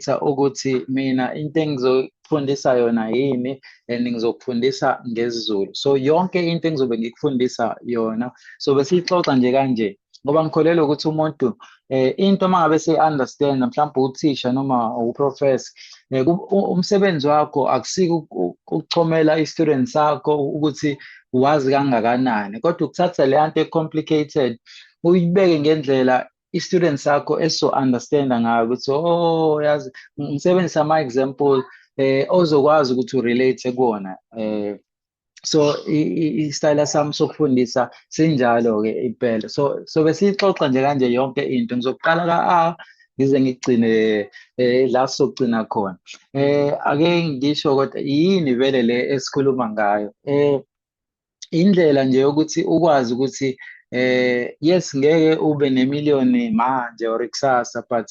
ngizokhetha ukuthi mina into engizofundisa yona yini and ngizokufundisa ngesiZulu so yonke into engizobe ngikufundisa yona so besiyixoxa nje kanje ngoba ngikholelwa ukuthi umuntu eh into uma ngabe seyi-understand mhlawumbe uthisha noma uprofesa eh, umsebenzi wakho akusike ukuchomela i-student sakho ukuthi wazi kangakanani kodwa ukuthatha leya nto e-complicated uyibeke ngendlela i-student sakho esizo-understanda ngayo ukuthi o oh, yazi ngisebenzisa ama-example eh ozokwazi ukuthi urelate kuwona eh so isitayela sami sokufundisa sinjalo-ke impela so so besiyixoxa nje kanje yonke into ngizokuqala ka-a ngize ngigcine eh la sokugcina khona eh ake ngisho kodwa yini vele le esikhuluma ngayo eh indlela nje yokuthi ukwazi ukuthi eh yes ngeke ube nemiliyoni manje or kusasa but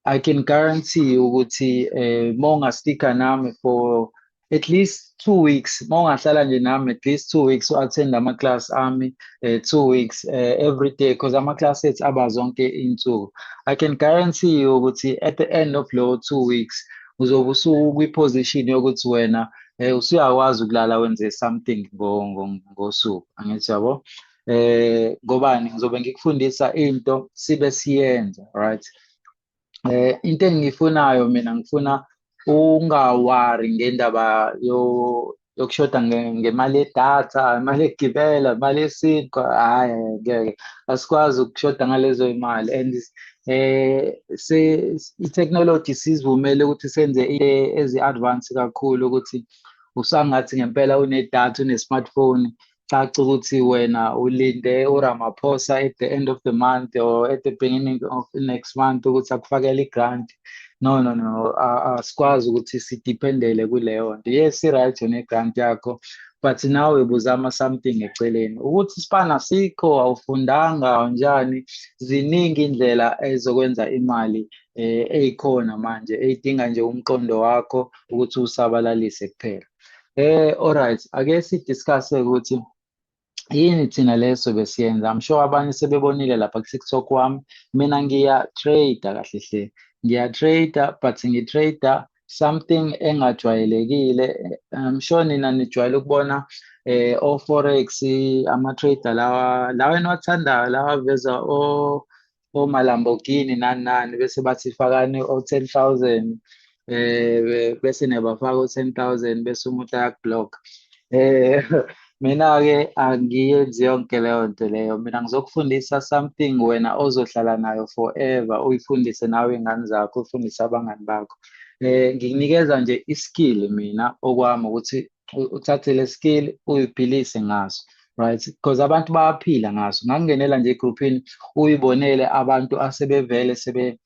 I can guarantee you ukuthi eh mawungastika nami for at least two weeks mawungahlala nje nami at least two weeks u-attend ama-class ami uh, two weeks uh, every day because ama-class ethu aba zonke iy'nsuku i can guarantee you ukuthi at the end of lowo two weeks uzobe usuku kwi-position yokuthi wena eh usuyakwazi ukulala wenze something ngosuku angithi yabo eh ngobani ngizobe ngikufundisa into sibe siyenza right eh into engiyifunayo mina ngifuna ungawari ngendaba yo yokushoda ngemali yedatha imali yegibela imali yesinkwa hhayi ngeke asikwazi ukushoda ngalezo imali and eh se i-technology sizivumele ukuthi senze ezi-advance kakhulu ukuthi usangathi ngempela unedatha une-smartphone caca ukuthi wena ulinde uramaphosa at the end of the month or at the beginning of the next month ukuthi akufakele i-grant no no no asikwazi ukuthi sidependele kuleyo nto yes i-right yona i-grant yakho but nawe buzama something eceleni ukuthi sibana sikho awufundanga njani ziningi indlela ezokwenza imali eh, eyikhona manje eyidinga nje umqondo wakho ukuthi usabalalise kuphela eh alright ake si discuss ukuthi yini thina leso besiyenza i'm sure abanye sebebonile lapha ku TikTok wami mina ngiya trade kahle hle ngiya trade but ngi trade something engajwayelekile I'm sure nina nijwayele ukubona eh o forex ama trader lawa lawa enwathandayo lawa veza o o Lamborghini nani nani bese bathi fakani o 10000 eh bese nebafaka u 10000 bese umuntu ayakublock eh Mina-ke angiyenzi yonke leyo nto leyo. Mina ngizokufundisa something wena ozohlala nayo forever, uyifundise nawe iy'ngane zakho, uyifundise abangani bakho. Eh, ngikunikeza nje i-skill mina okwami ukuthi u- uthathe le skill uyiphilise ngaso. Right, because abantu bayaphila ngaso. Ngangingenela nje egruphini uyibonele abantu asebevele sebe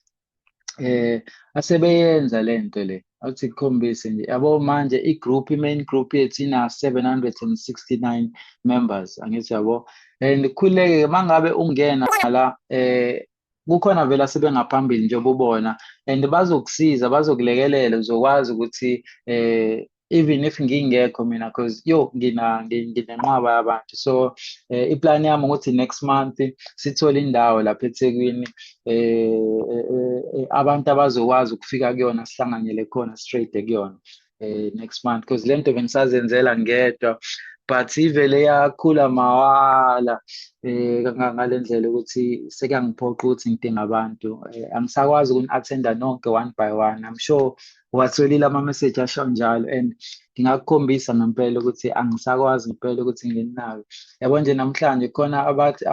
eh asebeyenza lento le awuthi kukhombise nje yabo manje i-group i-main group yethu ina-769 members angithi yabo and khuleke mangabe ungena la eh kukhona vele asebengaphambili njengoba ubona and bazokusiza bazokulekelela uzokwazi ukuthi eh even if ngingekho mina because yo ngina nginenqwaba yabantu so eh, iplan yami ukuthi next month sithole indawo lapha eThekwini eh, eh, eh, eh abantu abazokwazi ukufika kuyona sihlanganyele khona straight kuyona eh, next month because lento bengisazenzela ngedwa but ivele yakhula mawala eh ngale ndlela ukuthi sekuyangiphoqa ukuthi ngidinga abantu eh, angisakwazi ukuni-attenda nonke one by one i'm sure uwatholile ama-message asho njalo and ngingakukhombisa ngempela ukuthi angisakwazi ngempela ukuthi ngininayo yabo nje namhlanje khona abathi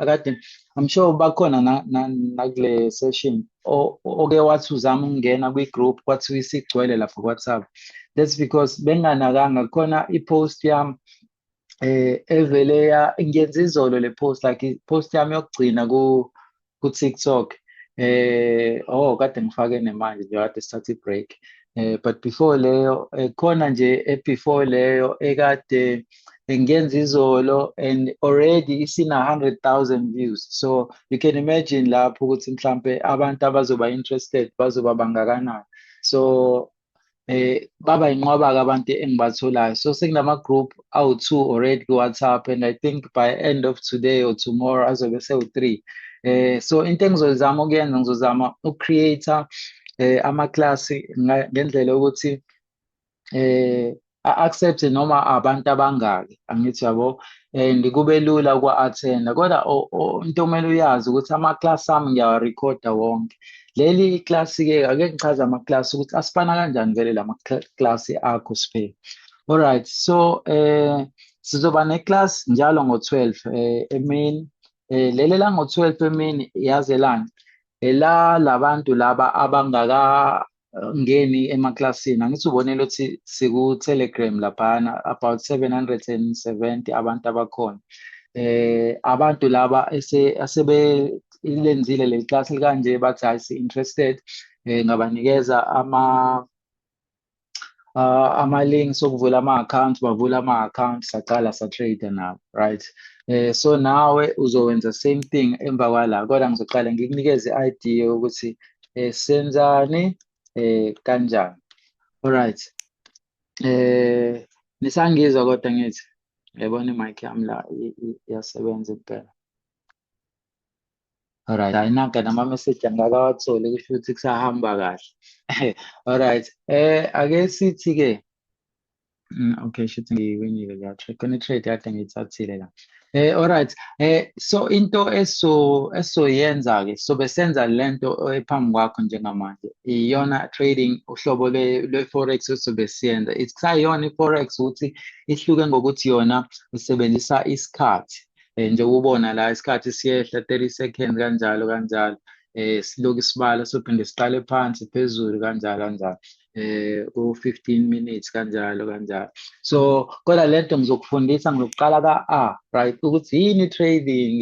akade i'm sure bakhona nakule session oke wathi uzama ukungena kwi-group kwathiwa isigcwele lapha ku-whatsapp that's because benganakanga khona i-post yami eh evele ya ngiyenza izolo le post like post yami yokugcina ku ku TikTok eh oh kade ngifake nemanje nje kade sithatha i-break eh but before leyo eh, khona nje e before leyo ekade ngiyenza izolo and already isina 100,000 views so you can imagine lapho ukuthi mhlambe abantu abazoba interested bazoba bangakanani so eh baba inqwaba kabantu engibatholayo so sekunama group awu two already ku WhatsApp and i think by end of today or tomorrow azobe sewu three eh so into engizozama ukuyenza ngizozama ucreate eh ama class ngendlela ukuthi eh a-accept noma abantu abangaki angithi yabo and kube lula ukwa-athenda kodwa into okumele uyazi ukuthi amaklasi ami ngiyawarekhoda wonke leli iklasi-ke ake ngichaze amaklasi ukuthi asifana kanjani vele la maklasi akho siphe alright so um sizoba neklasi njalo ngo-twelve um eh, emini um leli lango-twelve emini yazelani ela labantu laba abangaka ngeni emaklasini angithi ubonele ukuthi siku-telegram laphana about 770 abantu abakhona eh abantu laba asebelenzile leli class likanje bathi hayi si-interested eh ngabanikeza ama uh, ama-links okuvula ama-accounts bavula ama-accounts saqala sa-trade nabo right eh so nawe uzowenza same thing emva kwala kodwa ngizoqala ngikunikeze i-idea yokuthi eh senzani eh kanjani alright eh nisangizwa kodwa ngithi yabona i-mic yami la iyasebenza impela Alright, ayinake nama-message angakawatholi kusho ukuthi kusahamba kahle. Alright, eh ake sithi-ke mm, okay shuthi ngiwinile la trade khona i-trade kade ngiyithathile la. Eh alright, eh so into eso esoyenza-ke sobe senza le nto ephambi kwakho njengamanje iyona trading uhlobo lwe-forex esobe siyenza. Kusayona i-forex ukuthi ihluke ngokuthi yona isebenzisa isikhathi. um njengoba ubona la isikhathi siyehla thirty second kanjalo kanjalo um silokhu isibala sophinde siqale phansi phezulu kanjalo kanjalo eh ku-15 minutes kanjalo kanjalo so kodwa le nto ngizokufundisa ngizokuqala ka-a right ukuthi yini i-trading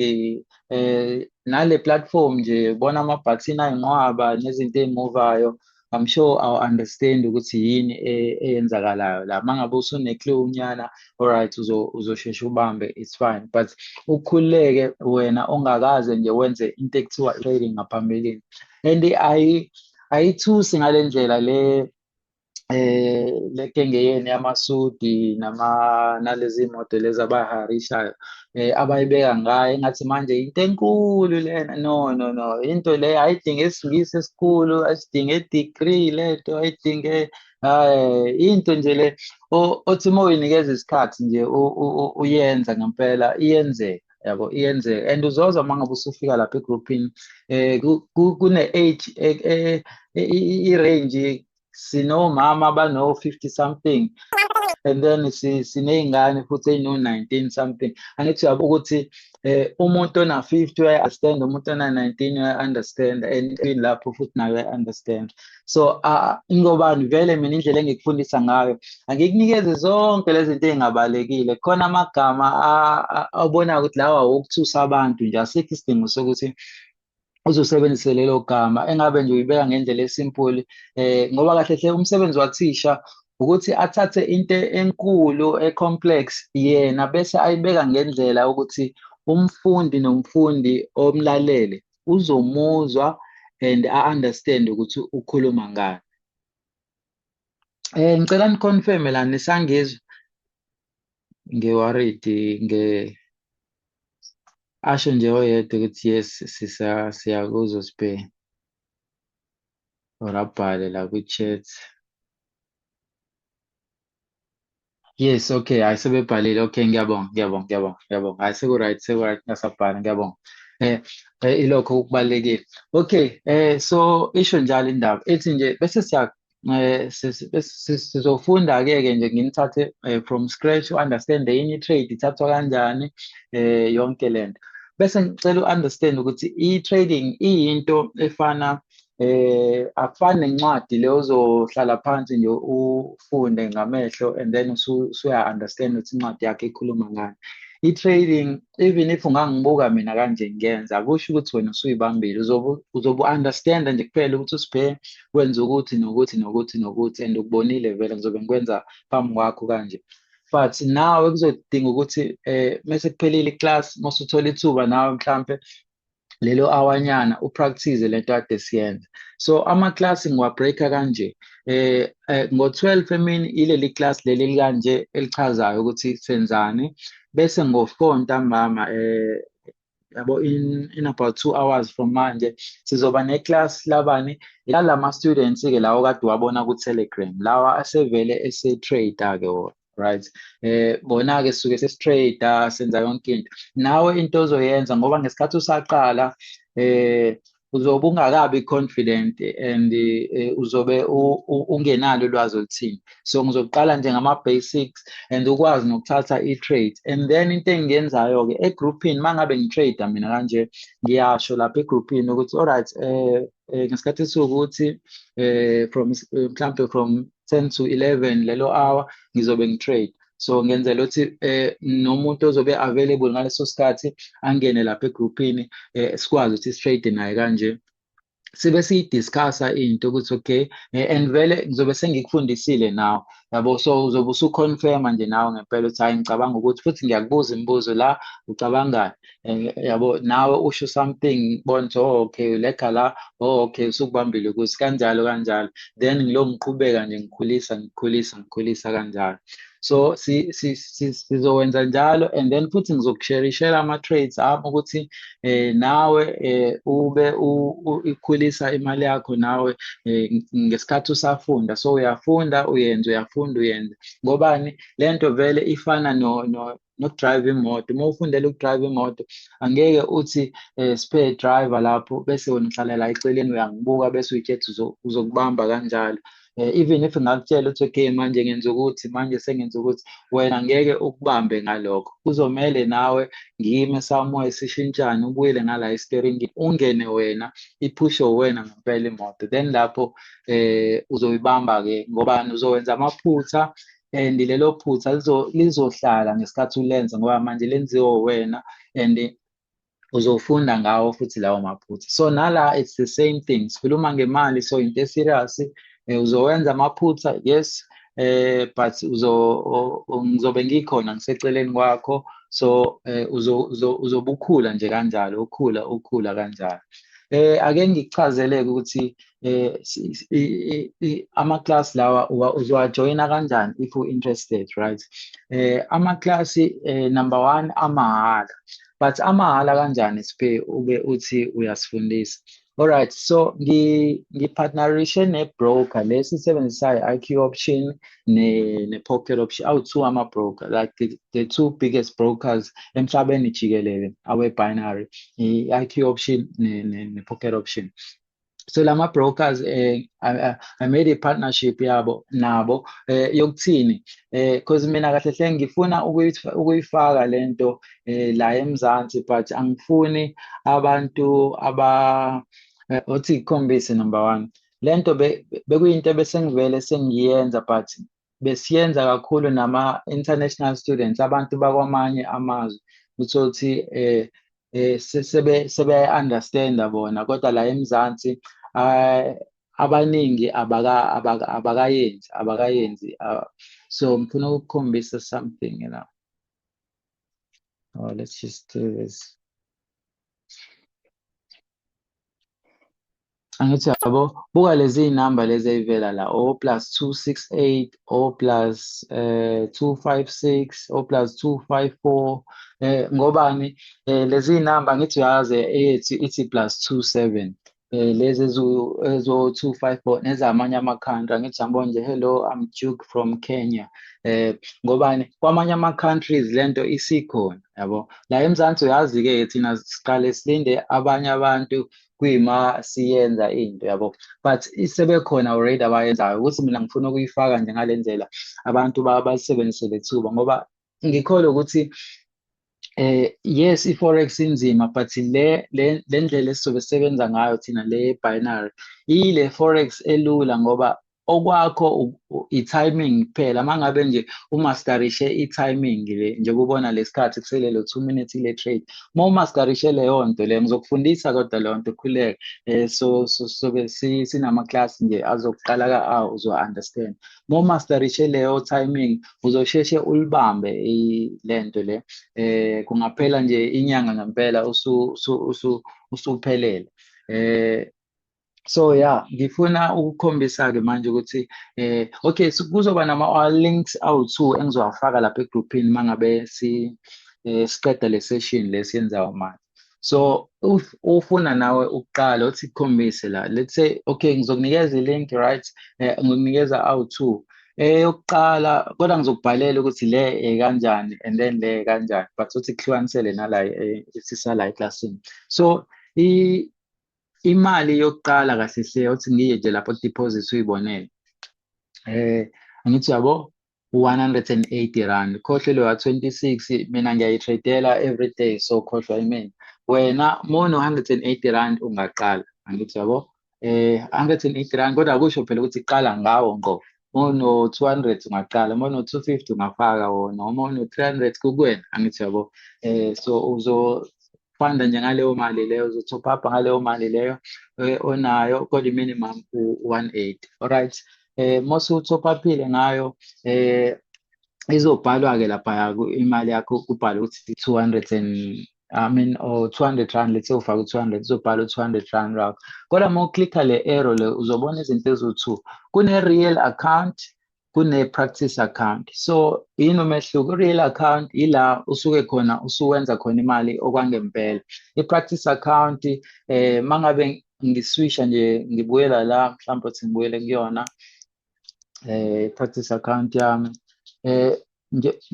eh nale platform nje bona ama-vaccine ayinqwaba nezinto ey'muvayo I'm sure I'll understand ukuthi yini e, eyenzakalayo la mangabe usune clue unyana alright uzo uzoshesha ubambe it's fine but ukhuleke wena ongakaze nje wenze into ekuthiwa trading ngaphambilini and ayi ayithusi ngalendlela le eh lekengeyeni yamasudi nama nalezi moto lezi abaharishayo eh, abayibeka ngayo engathi manje into enkulu lena no no no into le ayidinge isingisi esikhulu asidinge degree lento ayidinge eh into nje le othi uma uyinikeza isikhathi nje uyenza ngempela iyenzeka yabo iyenzeka and uzozwa uma ngabe usufika lapha egroupini eh kune-age e, e, e, i-range sinomama abano-50 something and then siney'ngane futhi ey'no-19 something angithi uyabo ukuthi eh umuntu ona-50 uyayi-understand umuntu ona-19 uyayi-understand and in lapho futhi naye uyayi-understand so uh, ingobani vele mina indlela engikufundisa ngayo angikunikeze zonke lezi zinto ey'ngabalekile khona amagama abonayo ukuthi lawa wokuthusa abantu nje asikho isidingo sokuthi uze usebenzise lelo gama engabe nje uyibeka ngendlela esimpuli eh ngoba kahle hle umsebenzi wathisha ukuthi athathe into enkulu ecomplex yena bese ayibeka ngendlela ukuthi umfundi nomfundi omlalele uzomuzwa and a understand ukuthi ukhuluma ngani eh ngicela niconfirm la nisangizwa ngiworried nge asho nje oyedwa ukuthi yes sisa siyakuzwa sibhe or abhale la kwi-chat yes okay hayi sebebhalile okay ngiyabonga ngiyabonga ngiyabonga ngiyabonga hayi seku-right seku-right ngasabhala ngiyabonga eh, eh ilokho okubalulekile okay eh so isho njalo indaba ethi nje bese siya eh sizofunda ke ke nje nginithathe eh, from scratch u understand yini i trade ithathwa kanjani eh yonke lento bese ngicela u understand ukuthi i trading iyinto efana eh akufani nencwadi le uzohlala phansi nje ufunde ngamehlo and then usuya understand ukuthi incwadi yakhe ikhuluma ngani i-trading even if ungangibuka mina kanje ngiyenza kusho ukuthi wena usuyibambile uzobe uzobe understand nje kuphela ukuthi usibhe wenza ukuthi nokuthi nokuthi nokuthi and ukubonile vele ngizobe ngikwenza phambi kwakho kanje but nawe kuzodinga ukuthi eh mase kuphelile iclass mase uthola ithuba nawe mhlambe lelo awanyana upractice lento ade siyenza so ama class ngiwabreaker kanje eh, eh ngo12 emini ileli class leli likanje elichazayo ukuthi senzani bese ngo4 ntambama eh yabo in, in about two hours from manje sizoba neclass labani lalama students ke lawo kade wabona ku Telegram lawa asevele ese trader ke wona right eh bona ke suke sesitrader senza yonke into nawe into ozoyenza ngoba ngesikhathi usaqala eh uzobe ungakabi confident and uh, uzobe ungenalo ulwazi oluthini so ngizokuqala nje ngama-basics and ukwazi nokuthatha i-trade and then into engiyenzayo-ke egrouphini uma ngabe ngi-trade mina kanje ngiyasho lapha egrouphini ukuthi olright um uh, uh, ngesikhathi esiwukuthi um uh, from mhlawumpe from ten to eleven lelo hour ngizobe ngi-trade so ngenzela ukuthi eh nomuntu ozobe available ngaleso sikhathi angene lapha egroupini eh sikwazi ukuthi straight naye kanje sibe siyidiscussa into ukuthi okay eh, and vele ngizobe sengikufundisile nawe yabo so uzobe usuconfirma nje nawe ngempela ukuthi hayi ngicabanga ukuthi futhi ngiyakubuza imibuzo la ucabangani eh, yabo nawe usho something bona ukuthi oh okay ulega la oh okay usukubambile ukuthi kanjalo kanjalo then ngilokhu ngiqhubeka nje ngikhulisa ngikhulisa ngikhulisa kanjalo so sizowenza njalo and then futhi ngizokusherishela ama-trades ami ukuthi eh, nawe eh, ube ikhulisa imali yakho nawe eh, ngesikhathi usafunda so uyafunda uyenze uyafunda uyenze ngobani le nto vele ifana no, no, nokudrive imoto uma ufundela ukudrive imoto angeke uthi eh, spare driver lapho bese wena uhlala la eceleni uyangibuka bese uyithetha uzokubamba kanjalo eh, even if ngakutshela ukuthi okay manje ngenza ukuthi manje sengenza ukuthi wena ngeke ukubambe ngalokho kuzomele nawe ngime somewhere sishintshane ubuyele ngala isteringi ungene wena iphushe wena ngempela imoto then lapho eh uzoyibamba ke ngoba uzowenza amaphutha and lelo phutha lizohlala ngesikhathi ulenza ngoba manje lenziwe wena and uzofunda ngawo futhi lawo maphutha so nala it's the same thing sikhuluma ngemali so into eserious eh, uzowenza amaphutha yes eh but uzo ngizobe ngikhona ngiseceleni kwakho so eh, uzo uzobukhula nje kanjalo ukhula ukhula kanjalo eh ake ngichazeleke ukuthi eh ama class lawa uzowajoyina kanjani if u interested right eh ama class eh, number 1 amahhala but amahhala kanjani siphe ube uthi uyasifundisa alright so ngi ngipartnerishe ne broker lesisebenzisayo IQ option ne ne pocket option awu two ama broker like the, the two biggest brokers emhlabeni jikelele awe binary i IQ option ne ne, ne pocket option so lama brokers eh I, I made a partnership yabo nabo eh yokuthini eh cause mina kahle hle ngifuna ukuyifaka lento eh la eMzansi but angifuni abantu aba eh, othi ikhombise number 1 lento bekuyinto besengivele sengiyenza but besiyenza kakhulu nama-international students abantu bakwamanye amazwe uthothi eh eh sebe sebe understand bona kodwa la eMzansi ah, abaningi abaka abakayenzi abakayenzi ah, so ngifuna ukukhombisa something you know oh let's just do this angithi yabo buka lezi number lezi eyivela la o oh, plus 268 o oh, plus eh 256 o oh, plus 254 eh ngobani eh lezi number ngithi uyazi eyethi ithi plus 27 eh lezi ezo 254 nezamanye ama country ngithi sambona nje hello i'm Duke from Kenya eh ngobani kwamanye ama countries lento isikhona yabo la eMzansi uyazi ke thina siqale silinde abanye abantu kuyima siyenza into yabo but sebekhona already abayenzayo ukuthi mina ngifuna ukuyifaka nje ngale ndlela abantu basebenzise le thuba ngoba ngikholwa ukuthi eh yes i-forex inzima but le le ndlela esizobe sisebenza ngayo thina le binary ile forex elula ngoba okwakho i-timing kuphela mangabe nje umastarishe i-timing le njekubona lesikhathi kuselelo 2 minutes ile trade uma umastarishe leyo nto le ngizokufundisa kodwa leyo nto khuleke eh so sobe sinama class nje azokuqala ka a uzo understand uma umastarishe leyo timing uzosheshe ulibambe lento le eh kungaphela nje inyanga ngempela usu usu usuphelele eh so yeah ngifuna ukukhombisa-ke manje ukuthi eh okay so kuzoba nama-links awu-two engizowafaka lapha egruphini uma ngabe si eh, siqeda le session le siyenzayo manje so if ufuna nawe ukuqala uthi kukhombise la let's say okay ngizokunikeza i-link right eh, ngikunikeza awu-two eyokuqala eh, kodwa ngizokubhalela ukuthi le eh, kanjani and then le kanjani but uthi kuhlukanisele nala eh, isisa la eklasini so imali yokuqala kahle hle othi ngiye nje lapho deposit uyibonele eh angithi yabo 180 rand khohlwe lewa 26 mina ngiyayitradela every day so khohlwa imina wena mono 180 rand ungaqala angithi yabo eh 180 rand kodwa kusho phela ukuthi qala ngawo ngqo mawuno-two hundred ungaqala uma uno-two fifty ungafaka wona uma uno-three hundred kukuwena angithi yabo um so uzofanda nje ngaleyo mali leyo uzo-top up ngaleyo mali leyo eh, onayo kodwa i-minimum u-one eight alright um eh, mose u-top upile ngayo um izobhalwa-ke laphaya imali yakho kubhalwe ukuthi two hundred and I mean or 200 rand let's say ufaka u200 uzobhala u200 rand rakho kodwa uma uclicka le arrow le uzobona izinto eziwu2 kune real account kune practice account so yini umehluko real account ila usuke khona usuwenza khona imali okwangempela i practice account eh mangabe ngiswisha nje ngibuyela la mhlawumbe uthi ngibuyele kuyona eh practice account yami eh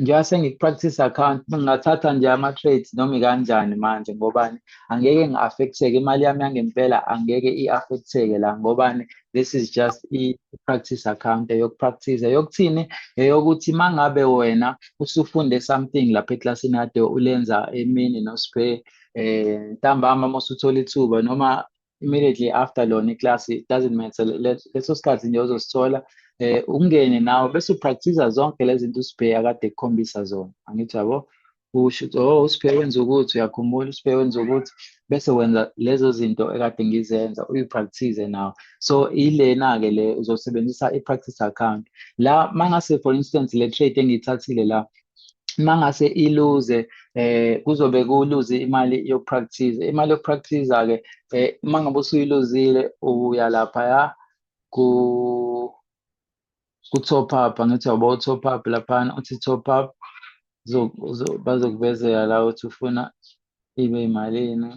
ngiyase ngipractice account ngingathatha nje ama trades noma kanjani manje ngobani angeke ngiaffecteke imali yami yangempela angeke iaffecteke la ngobani this is just i practice account eyokupractice eyokuthini eyokuthi mangabe wena usufunde something lapha eclassini ade ulenza emini no spare eh ntambama mosuthola ithuba noma immediately after lona iclass it doesn't matter leso sikhathi nje uzosithola eh ungene nawe bese upractice zonke lezi zinto usibheya kade kukhombisa zona angithi yabo usho ukuthi oh usibheya wenza ukuthi uyakhumbula usibheya wenza ukuthi bese wenza lezo zinto ekade ngizenza uyipractice nawe so ilena ke le uzosebenzisa ipractice account la mangase for instance le trade engiyithathile la mangase iluze eh kuzobe kuluze imali yokupractice imali yokupractice ke eh mangabe usuyiluzile uya lapha ya ku ku top up angithi yabo top up lapha uthi top up bazokuvezela la uthi ufuna ibe imalini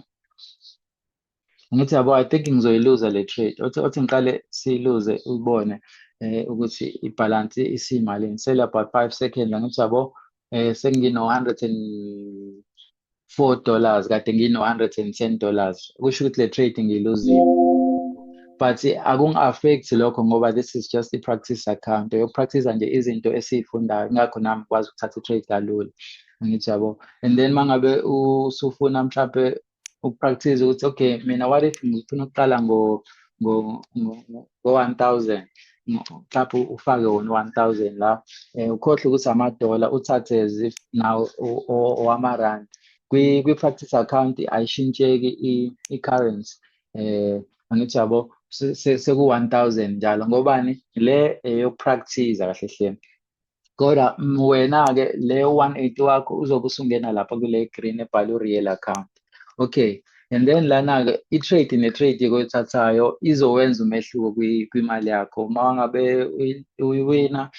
ngithi yabo i think ngizoyiluza le trade othi othi ngiqale siyiluze ubone eh ukuthi ibhalansi isimalini sele about 5 seconds ngithi yabo eh sengino 104 dollars kade ngino 110 dollars kusho ukuthi le trade ngiyiluzile but akungi-affect lokho ngoba this is just i-practice account yokupractice nje izinto esiyifundayo ngakho nami ngikwazi ukuthatha i-trade kalula ngithi yabo and then mangabe usufuna mhlampe ukupractice ukuthi okay mina what if ngifuna ukuqala ngo ngo ngo 1000 mhlawumbe ufake wona 1000 la eh, ukhohle ukuthi amadola uthathe as if now owamarand kwi-practice account ayishintsheki i-currency eh angithi yabo seku-1000 njalo ngobani le eyokupractice kahle hle kodwa mm, wena-ke le 180 wakho uzobe usungena lapha kule green ebhala u-real account okay and then lana-ke i-trade ne-trade ekoyithathayo izowenza umehluko kwimali yakho uma ngabe uyiwina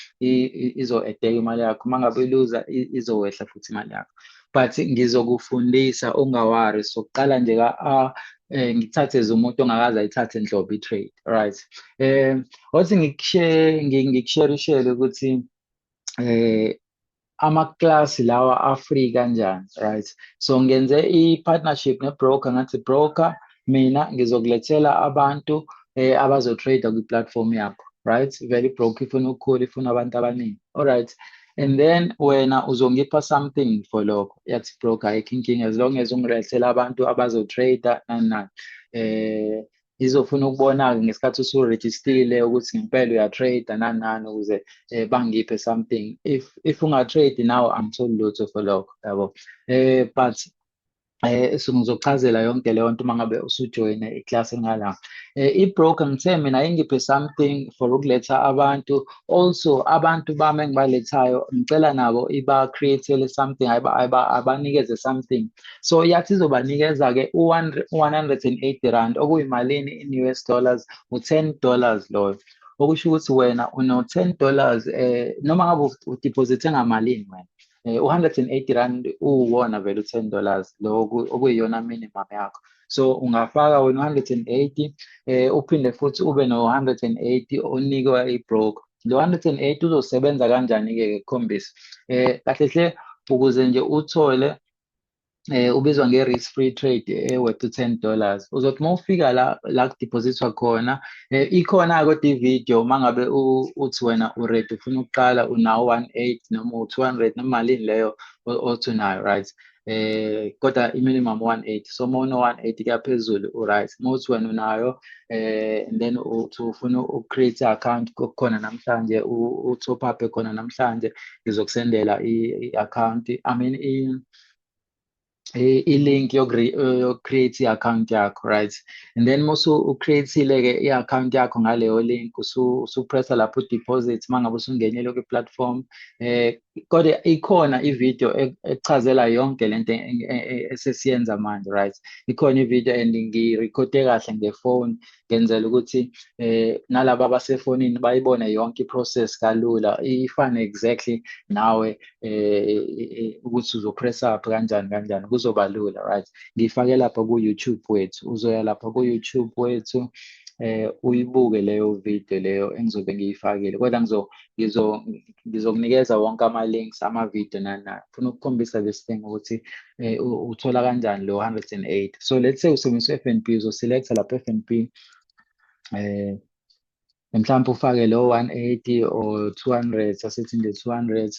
izo-edeka imali yakho uma ngabe iluza izowehla futhi imali yakho but ngizokufundisa ungawari so kuqala nje ka a eh ngithathe umuntu ongakaze ayithathe nhlobo i-trade right eh wathi ngikushare ngikusherishele ukuthi eh amaklasi lawa afree kanjani right so ngenze i-partnership ne-broker ngathi broker mina ngizokulethela abantu eh, abazotrader kwi-platform yakho right vele ibroke ifuna ukukhula ifuna abantu abaningi alright and then wena uzongipha something for lokho yathi broke ayikho inkinga as long as ungilethela abantu abazotrader nani nani eh izofuna ukubona-ke ngesikhathi usurejistile ukuthi ngempela uyatrade nani nani ukuze eh, bangiphe something if if ungatrade nawe angitholi lutho for lokho yabo eh but eh ngizokuchazela yonke leyo nto uma ngabe usujoyine iklasi ngala eh, i-broker ngithe mina ingiphe something for ukuletha abantu also abantu bami engibalethayo ngicela nabo iba-createle something abanikeze something so yathi izobanikeza-ke u-180 rand okuyimalini in u s dollars u-10 dollars loyo okusho ukuthi wena uno-10 dollars um noma ngabe udiphozithe ngamalini wena eh, u-180 rand uwona vele u-10 dollars lo okuyiyona minimum yakho so ungafaka wena u-180 eh uphinde futhi ube no-180 onikwa i-broker lo 108 uzosebenza kanjani-ke ke kukhombisa eh kahle hle ukuze nje uthole eh ubizwa nge risk free trade eh worth 10 dollars uzothi uma ufika la la kudepositwa khona eh ikhona kodwa ivideo mangabe uthi wena uready ufuna ukuqala unawo 18 noma 200 noma malini leyo othi unayo right eh kodwa iminimum 180 so uma uno 180 kuyaphezulu uright uma uthi wena unayo eh and then uthi ufuna ucreate account khona namhlanje u top up khona namhlanje ngizokusendela i account i mean i-link yoku-create i-account yakho right and then musu ucreatile-ke i-account yakho ngaleyo link usupressa lapho udeposit uma ngabe usungenile kwi-platform um kodwa ikhona ivideo ekuchazela yonke le nto esesiyenza manje right ikhona ivideo and ngirekhode kahle ngefoni ngenzela ukuthi eh nalabo abasefonini bayibone yonke iprocess kalula ifane exactly nawe eh, eh, eh ukuthi uzopress up kanjani kanjani kuzoba lula right ngifake lapha ku YouTube wethu uzoya lapha ku YouTube wethu eh uyibuke leyo video leyo engizobe ngiyifakile kodwa ngizo ngizo ngizokunikeza wonke ama-links ama-video nani nani funa ukukhombisa this thing ukuthi eh, uthola kanjani lo 108 so let's say usebenzisa u-f n b uzoselecta lapho f n b eh mhlawumbe ufake lo 180 or 200 asithi nje 200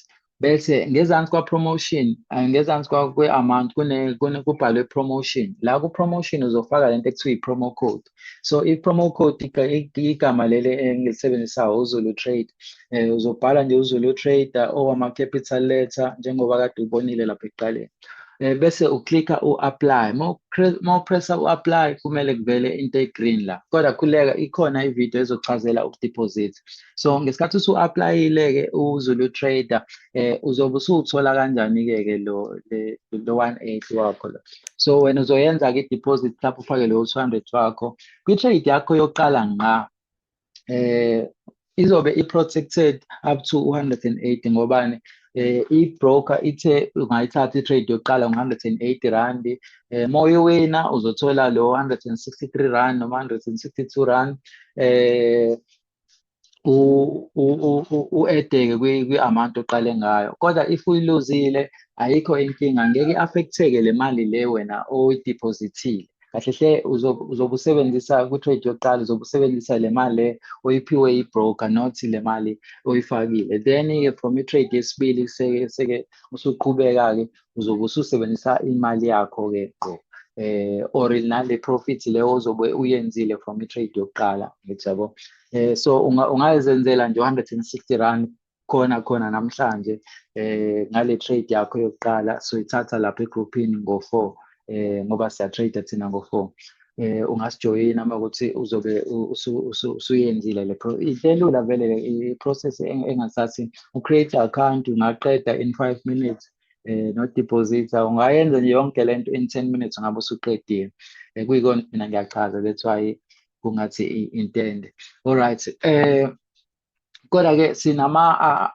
bese ngezansi kwa-promotion eh, ngezansi kwe-amount kubhalwe promotion la ku-promotion uzofaka lento ekuthiwa i-promo code so i-promo code igama leli engilisebenzisayo uzulu trade um uzobhala nje uzulu trader owama-capital letter njengoba kade ubonile lapha ekuqaleni um bese uklika u-apply uma upressa u-apply kumele kuvele into e-green la kodwa khuleka ikhona ividiyo ezochazela ukudiphozitha so ngesikhathi usu-aplayile-ke uzulu trader eh uzobe usuthola kanjani ke ke lo lo 180 wakho lo so wena uzoyenza ke deposit lapho ufake lo 200 wakho kwi trade yakho yokuqala ngqa eh izobe i protected up to 180 ngobani eh i-broker ithe ungayithatha i-trade yokuqala ngo-180 rand eh moyo wena uzothola lo 163 rand noma 162 rand eh u-edeke kwi-amount oqale ngayo kodwa if uyiluzile ayikho inkinga ngeke i-affecteke le mali le wena oyidiphozithile kahle hle uzobe usebenzisa kwi-trade yokuqala uzobe usebenzisa le mali le oyiphiwe i-broker not le mali oyifakile then-ke from i-trade yesibili seke usuqhubeka-ke uzobe ususebenzisa imali yakho-ke qo eh or nale profit leyo ozobe uyenzile from i-trade yokuqala ngithi yabo eh so ungayezenzela nje 160 rand khona khona namhlanje eh ngale trade yakho yokuqala so ithatha lapha egroupini ngo-4 eh ngoba siya trade thina ngo 4 eh ungasijoyina uma ukuthi uzobe usuyenzile le pro intelula vele i process engasathi u create account ungaqeda in 5 minutes eh no deposit ungayenza nje yonke lento in 10 minutes ngabe usuqedile eh, kuyikona mina ngiyachaza that's why kungathi intende all right eh Kodwa-ke sinama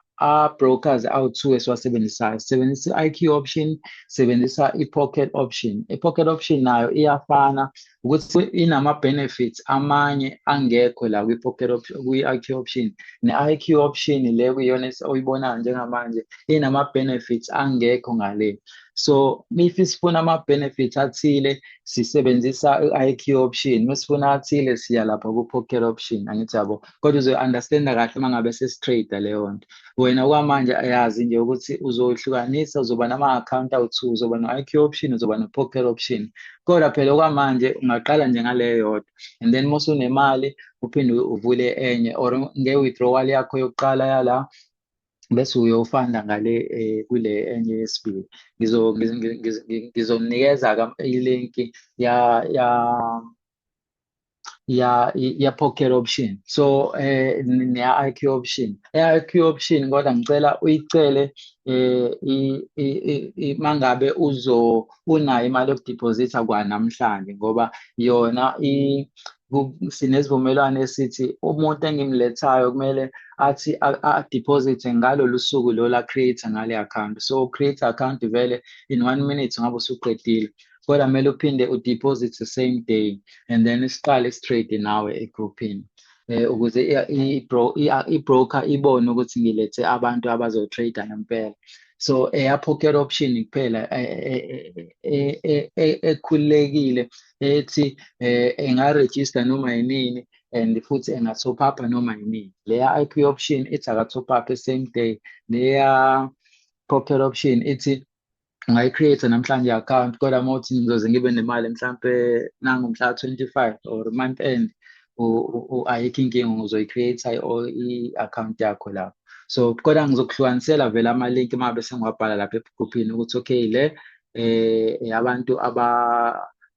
brokers awu-two esiwasebenzisayo. Sisebenzisa i-IQ option, sebenzisa i-pocket option. I-pocket option nayo iyafana ukuthi inama-benefits amanye angekho la kwi-pocket option, kwi-IQ option. Ne-IQ option le kuyiyona oyibonayo njengamanje inama-benefits angekho ngale. So if sifuna ama-benefits athile sisebenzisa i-IQ option, uma sifuna athile siya lapha ku-pocket option angithi yabo. kodwa uzoyi-understanda kahle uma ngabe sesitrader leyo nto wena okwamanje ayazi nje ukuthi uzoyihlukanisa uzoba nama-account awu-two uzoba no-i q option uzoba no-poker option kodwa phela okwamanje ungaqala nje ngaleyo yodwa and then uma usunemali uphinde uvule enye or nge-withdrawal yakho yokuqala yala bese uyofanda ngale eh, kule enye yesibili ngizomnikeza-ke ilinki ya ya ya ya pocket option so eh neya IQ option eya IQ option kodwa ngicela uyicele eh mangabe uzo unayo imali yokudeposita kwanamhlanje ngoba yona i sinezivumelwano esithi umuntu engimlethayo kumele athi adeposit ngalolu suku lola create ngale account so create account vele in one minute ngabe usuqedile kodwa kumele uphinde udeposit the same day and then siqale isitrade nawe egrouphini eh ukuze i-broker ibone ukuthi ngilethe abantu abazotrader ngempela so eyapocket option kuphela ekhululekile ethi eh, engaregister noma yinini and futhi enga-top up noma yinini leya i p option ithi aka-top up same day leya pocket option ithi ungayicreate namhlanje i-account kodwa uma uthi ngizoze ngibe nemali mhlampe nangu mhla 25 or month end ayikho inkinga uzoyicreate i-account yakho lapho so kodwa ngizokuhlukanisela vele ama-link uma bese ngiwabhala lapha ebhukhuphini ukuthi okay le eh abantu aba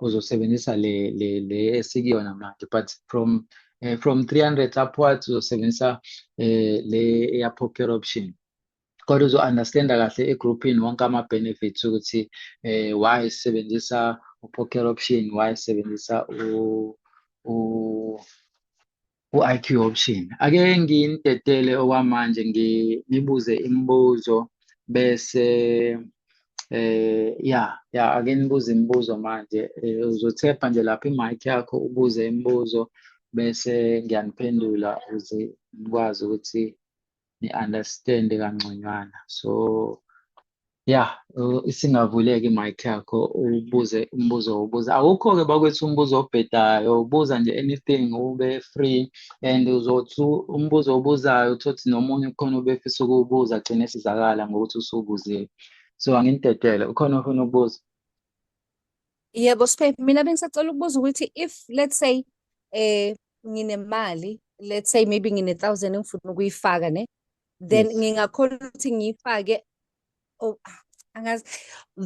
uzosebenzisa le le le esikuyona manje but from uh, from 300 upwards uzosebenzisa uh, le eya popular option kodwa uzo-understanda kahle egrouphini wonke ama-benefits ukuthi eh, why sisebenzisa u-poker option why sisebenzisa u, u u-IQ option. Ake ngintetele okwamanje nginibuze imibuzo bese eh ya ya ake nibuze imibuzo manje eh, uzothepha nje lapha i-mic yakho ubuze imibuzo bese ngiyaniphendula ukuze nikwazi ukuthi ni-understand kangconywana so ya isingavuleka i-mic yakho ubuze umbuzo wobuza awukho-ke bakwethu umbuzo obhedayo ubuza nje anything ube free and uzothi umbuzo obuzayo uthothi nomunye ukhona ubefisa ukuwubuza agcine esizakala ngokuthi usuwubuzile so anginitetele ukhona ofuna ukubuza Yebo Sphe, mina bengisacela ukubuza ukuthi if let's say eh nginemali let's say maybe ngine 1000 engifuna ukuyifaka ne then yes. ngingakhona ukuthi ngiyifake oh ah, angazi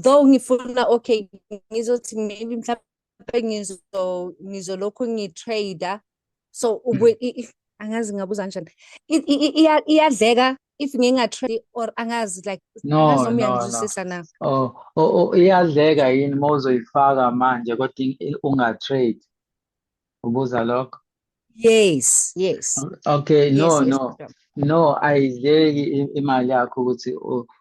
though ngifuna okay ngizothi maybe mhlawumbe ngizo ngizolokhu ngitrader so ubuye hmm. angazi ngabuza kanjani iyadleka if ngingatrade or angazi like no, no, no. na oh, oh, oh iyadleka yini uma uzoyifaka manje kodwa ungatrade ubuza lokho yes yes okay no yes, no yes. no ayidleki imali yakho ukuthi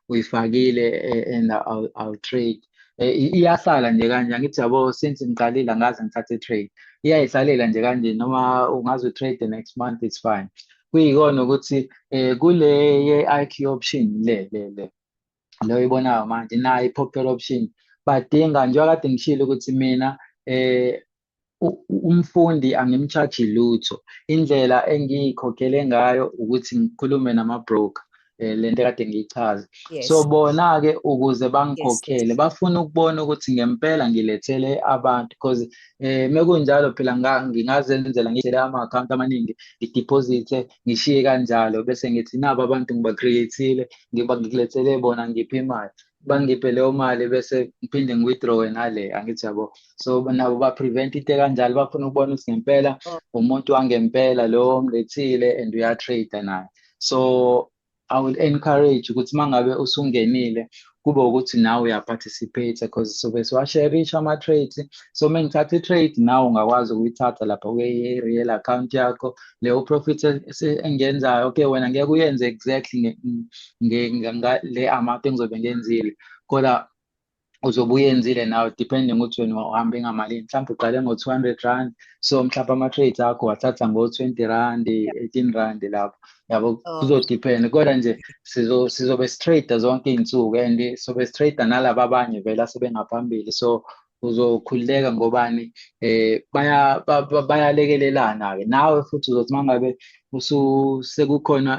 uyifakile eh, and awu trade eh, iyasala nje kanje angithi yabo since ngiqalile ngaze ngithathe trade iyayisalela nje kanje noma ungaze utrade the next month it's fine kuyikona ukuthi eh, kule ye-IQ option le le le le oyibonayo manje nayo i-popular option badinga njengoba kade ngishilo ukuthi mina eh umfundi angimchaji lutho indlela engiyikhokhele ngayo ukuthi ngikhulume nama-broker um le nto kade ngiyichaza so bona-ke ukuze bangikhokhele bafuna ukubona ukuthi ngempela ngilethele abantu because um mekunjalo phela ngingazenzela ngidlele ama-akhawunti amaningi ngidiphozithe ngishiye kanjalo bese ngithi nabo abantu ngiba-create-ile ngikulethele bona ngiphi imali bangiphe leyo mali bese ngiphinde ngi-withdrawe ngale angithi yabo so nabo ba-prevent into kanjalo bafuna ukubona ukuthi ngempela oh. umuntu wangempela lo mlethile and uyatrade naye so i will encourage ukuthi uma ngabe usungenile kube ukuthi nawe uyaparticipate because sobe siwasherisha ama-trades so uma ngithatha i-trade nawe ungakwazi ukuyithatha lapha kwi-real account yakho leyo profit engiyenzayo okay wena ngeke uyenze exactly le amount engizobe ngiyenzile kodwa uzobe uyenzile nawe depending ukuthi wena uhambe ngamalini mhlawumbe uqale ngo-two hundred rand so mhlawumbe ama-trades akho wathatha ngo-twenty rand eighteen rand lapho yabo oh. kuzodepend kodwa nje sizobe sitrade zonke iy'nsuku and sobe sitrade nalaba abanye vele asebengaphambili so uzokhululeka ngobani eh baya bayalekelelana ke nawe futhi uzothi mangabe sekukhona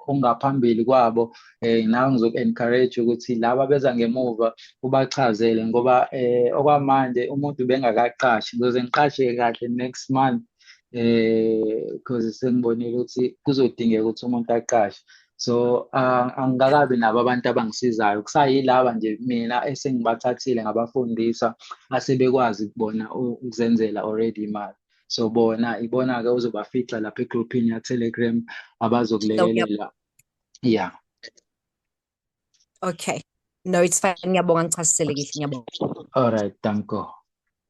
ongaphambili kwabo eh nawe ngizoku encourage ukuthi laba beza ngemuva ubachazele ngoba eh okwamanje umuntu bengakaqashi ngizoze ngiqashe kahle next month eh because sengibonile ukuthi kuzodingeka ukuthi umuntu aqashe so uh, angikakabi nabo abantu abangisizayo kusayilaba nje mina esengibathathile ngabafundisa asebekwazi kubona ukuzenzela already imali so bona ibona-ke uzobafica lapha egrouphini ya-telegram abazokulekelela ya okay no it's fine ngiyabonga ngichasiselekile ngiyabonga all right danko